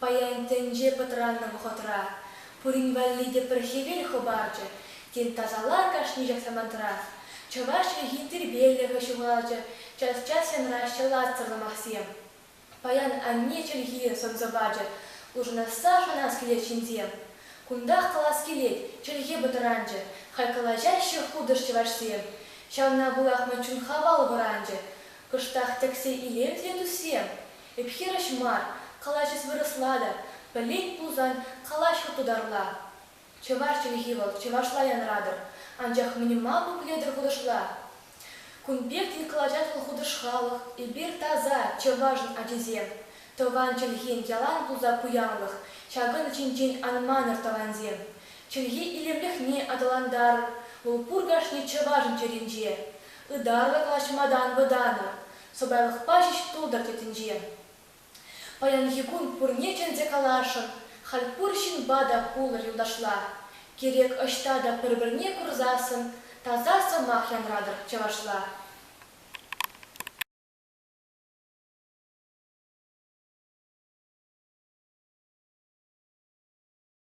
Паян тӗнче пӑтраннӑ вӑхӑтра пурин валли те пӗр хӗвел хӑпарчӗ. Тен, тасалар кашни ҫак самантрах? Чӑваш чӗлхин тирпейлӗхӗ ҫухалчӗ час-час янраҫҫӗ латсӑрлӑ махсем. Паян анне чӗлхи сӑмса пачӗ, улшӑнасса шанас килет ҫынсем. Кунтах калас килет, чӗлхе пӑтранчӗ, халь калаҫаҫҫӗ хутӑш чӑвашсем. Ҫавна пулах ман чун хавал вӑранчӗ. Кӑштах тӗксе илем те туссем. Ӳт-хирӗҫ мар, калаҫас вырӑсла та, пӗлет пулсан, калаҫ хӑтутарла. Чӑваш чӗлхи вӑл, чӑвашла янратӑр, анчах минимал буклетӑр хутӑшла. Кун пеккин кӑлачатлӑ хутӑш-халӑх, эпир таса чӑвашӑн ачисем, тӑван чӗлхен ялан пулса пуянлӑх, ҫакӑн ҫинчен ан манӑр, тӑвансем. Чӗлхе илемлӗхне аталантарӑр, вӑл пур кашни чӑвашӑн чӗринче. Ытарла калаҫма та ан вӑтанӑр, Сӑпайлӑхпа ҫеҫ тултӑр тетӗнче. Паянхи кун пурне чӗнсе каласшӑн, халь пур ҫынпа та пулӑр юлташла. Кирек ӑҫта та пӗр-пӗрне курсассӑн таса сӑмах янратӑр чӑвашла.